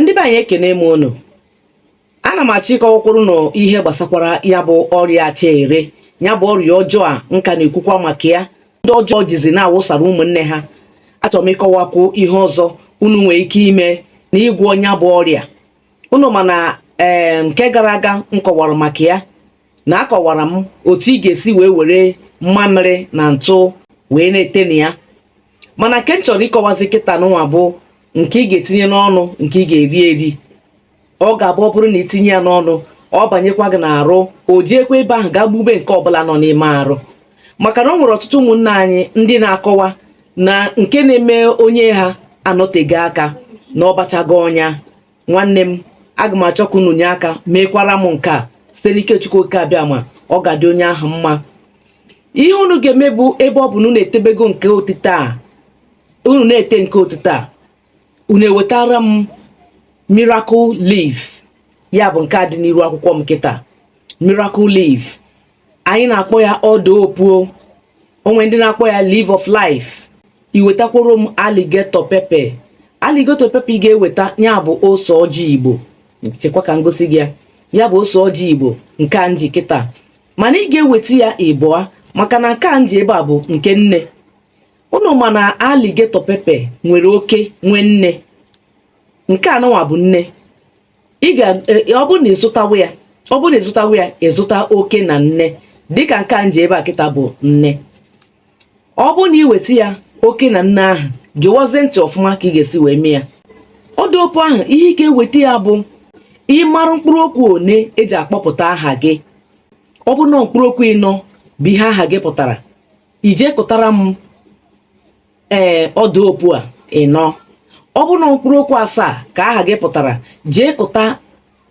ndị be anyị ekene m unu ana m achọ ịkọwakwuru na ihe gbasakwara ya bụ ọrịa acha ere ya bụ ọrịa ọjọọ a m ka na-ekwukwa maka ya ndị ọjọọ jizi na-awụsara ụmụnne ha achọrọ m ịkọwakwu ihe ọzọ unu nwere ike ime na ịgwọ ya bụ ọrịa unu ma na ee nke gara aga m kọwara maka ya na akọwara m otu ị ga-esi wee were mmamịrị na ntụ wee na-ete na ya mana nke m chọrọ ịkọwazi kịta nụwa bụ nke ị ga-etinye n'ọnụ nke ị ga-eri eri ọ ga-abụ ọ bụrụ na itinye ya n'ọnụ ọ banyekwa gị n'arụ o jiekwa ebe ahụ gaa gbube nke ọbụla nọ n'ime arụ maka na o nwere ọtụtụ ụmụnna anyị ndị na-akọwa na nke na-eme onye ha anọtego aka na ọ bachago ọnya nwanne m aga m achọ ka unu nye aka meekwara m nke a site n'ike Chukwu oke abịama ọ ga-adị onye ahụ mma ihe unu ga-eme bụ ebe ọ bụ na unu etebego nke otite a unu na-ete nke otite a unu ewetara m miracle leaf ya bụ nke a dị n'iru akwụkwọ m kịta miracle leaf anyị na-akpọ ya ọdaa opuo o nwe ndị na-akpọ ya leaf of life iwetakwuru m alligator pepper alligator pepper ị ga-eweta ya bụ ose ọjị igbo chekwa ka m gosi gị ya ya bụ ose ọjị igbo nke a m ji kịta mana ị ga-eweta ya ịbụa maka na nke a m ji ebe a bụ nke nne unu ma na alligator pepper nwere oke nwee nne nke a nụnwa bụ nne ị ga e, ọ bụrụ na ịzụtawa ya ọ bụrụ na ịzụtawa ya ịzụta oke na nne dịka nke a m ji ebe a kịta bụ nne ọ bụrụ na iweta ya oke na nne ahụ gewazie ntị ọfụma ka ị ga-esi wee mee ya ọdaa opuo ahụ ihe ị ga-eweta ya bụ ịmara mkpụrụ okwu one eji akpọpụta aha gị ọ bụrụ na mkpụrụ okwu ịnọ bụ ihe aha gị pụtara ije kụtara m ee ọdaa opuo a ịnọ ọ bụrụ na mkpụrụ okwu asaa ka aha gị pụtara jee kụta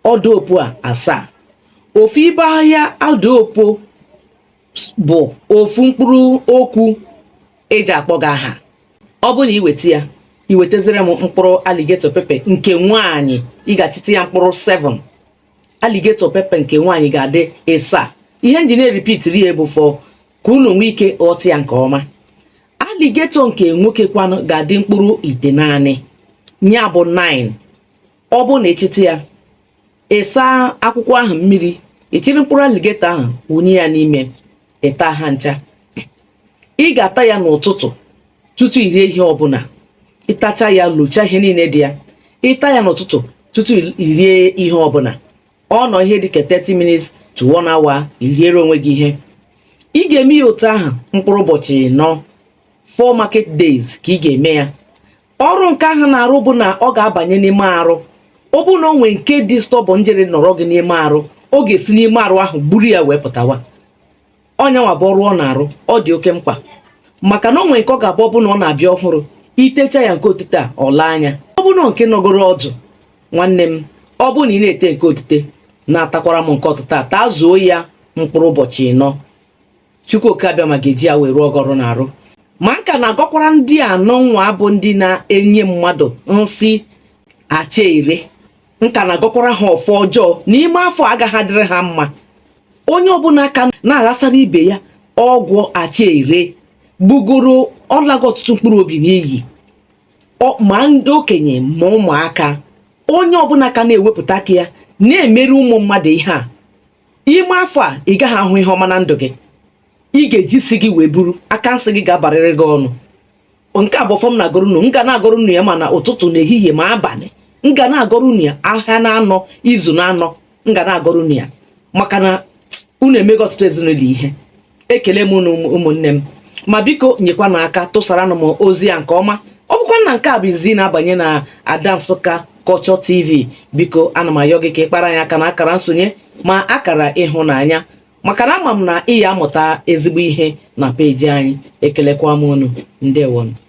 ọdaa opuo a asaa ofu ibe ahịhịa ọdaa opuo bụ ofu mkpụrụ okwu eji akpọ gị aha ọ bụrụ na iweta ya iwetazire m mkpụrụ alligator pepper nke nwaanyị ị ga-achịta ya mkpụrụ 7 alligator pepper nke nwaanyị ga-adị ịsaa ihe m ji na-eripitiri ya bụ fọ ka unu nwee ike ghọta ya nke ọma alligator nke nwoke kwanụ ga-adị mkpụrụ itenaanị ya bụ 9 ọ bụrụ na ịchịta ya ịsa akwụkwọ ahụ mmiri ịchịrị mkpụrụ alligator ahụ wụnye ya n'ime ịta ha ncha ị ga-ata ya n'ụtụtụ tutu irie ihe ọbụla ịtacha ya lochaa ihe niile dị ya ịta ya n'ụtụtụ tutu irie ihe ọbụla ọ nọọ ihe dịka 30 minutes to 1 hour iriere onwe gị ihe ị ga-eme ya otu ahụ mkpụrụ ụbọchị ịnọ four market days ka ị ga-eme ya ọrụ nke ahụ na-arụ bụ na ọ ga-abanye n'ime arụ ọ bụrụ na o nwee nke dị stubborn jere nọrọ gị n'ime arụ ọ ga-esi n'ime arụ ahụ gburu ya wee pụtawa ọ nyanwa bụ ọrụ ọ na-arụ ọ dị oke mkpa maka na o nwee nke ọ ga-abụ ọ bụ na ọ na-abịa ọhụrụ i techa ya nke otite a ọ laa anya ọ bụrụ na nke nọgoro ọdụ nwanne m ọ bụrụ na ị na-ete nke otite na-atakwara m nke ọtịta a taa zuo ya mkpụrụ ụbọchị ịnọ chukwu oke abịama ga-eji ya wee rụọ gị ọrụ n'arụ ma m ka na-agọkwara ndị anụnwa bụ ndị na-enye mmadụ nsị acha ere m ka na-agọkwara ha ọfọ ọjọọ na ime afọ a agaghị adịrị ha mma onye ọbụla ka na-aghasara ibe ya ọgwụ acha ere gbugoro ọ lago ọtụtụ mkpụrụ obi n'iyi ma ndị okenye ma ụmụaka onye ọbụla ka na-ewepụta aka ya na-emeri ụmụ mmadụ ihe a ime afọ a ị gaghị ahụ ihe ọma na ndụ gị ị ga-eji isi gị wee buru aka nsị gị ga-abarịrị gị ọnụ nke a bụ ọfọ m na-agọrọ unu m ga na-agọrọ unu ya ma na ụtụtụ na ehihie ma abalị m ga na-agọrọ unu ya ahịa na anọ izu na anọ m ga na-agọrọ unu ya maka na unu emego ọtụtụ ezinụlọ ihe ekele m unu ụmụnne m ma biko nyekwanụ aka tụsaranụ m ozi a nke ọma ọ bụkwa na nke a bụ izizi ị na-abanye na ada nsukka culture tv biko ana m ayọ gị ka ị kpara anyị aka na akara nsonye ma akara ịhụnanya maka na ama m na ị ya-amụta ezigbo ihe na peji anyị ekelekwa m unu ndewonụ